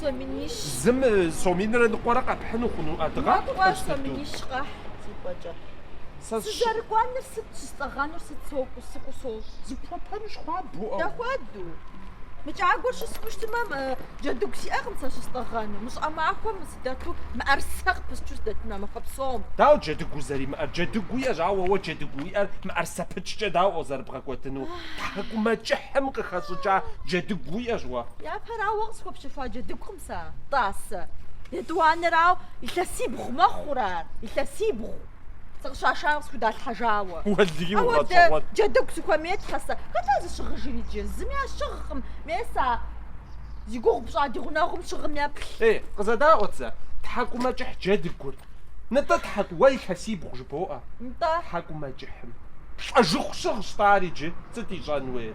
Соминищ. Зым соминрэ ныкъуэрэ къэпхьыну хъуну адыгъа? Ныкъуэ соминищ къэхь зыкӏуэкӏэ. Сызэрыкӏуэныр сыт, щыстӏэгъэнур сыт, сокӏу, сыкӏу, сокӏу. Зыпхуэпэнщ хуабэу. Дэхуэду. Мы кӏагуэр щысхыу щытмэ, джэдыгу сиӏэкъым сэ щыстӏэгъэну. Мы щӏыӏэ махуэм сыдэту мыӏэрысэ къыпысчу сыдэтыну а махуэ псом. Дауэ джэдыгу узэримыӏэр? Джэдыгу уиӏэщ, ауэ уэ джэдыгу уиӏэр мыӏэрысэ пычкӏэ дауэ ар зэрыбгъэкӏуэдыну? Тхьэкӏумэкӏыхьым къыхэщӏыкӏа джэдыгу уиӏэщ уэ. Ара уэ къысхуэпщэхуа джэдыгукъым сэ, тӏасэ, етӏуанэрауэ илъэсибгъу мэхъур ар, илъэсибгъу, сыкъыщашам къысхудалъхьэжауэ. Апхуэдэ джэдыгу сыхуэмей, тхьэ, сэ. Хэт ар зыщыгъыжыр иджы? Зыми ар щыгъкъым, мес а зи гугъу пщӏа ди гъунэгъум щыгъым еплъ. Ей, къызэдаӏуэт зэ, тхьэкӏумэкӏыхь джэдыгур. Нтӏэ, тхьэ, уэ илъэсибгъу жыбоӏэ. Нтӏэ. Тхьэкӏумэкӏыхьым лӏэжыху щыгъщ-тӏэ ар иджы, сыт ищӏэн уейр?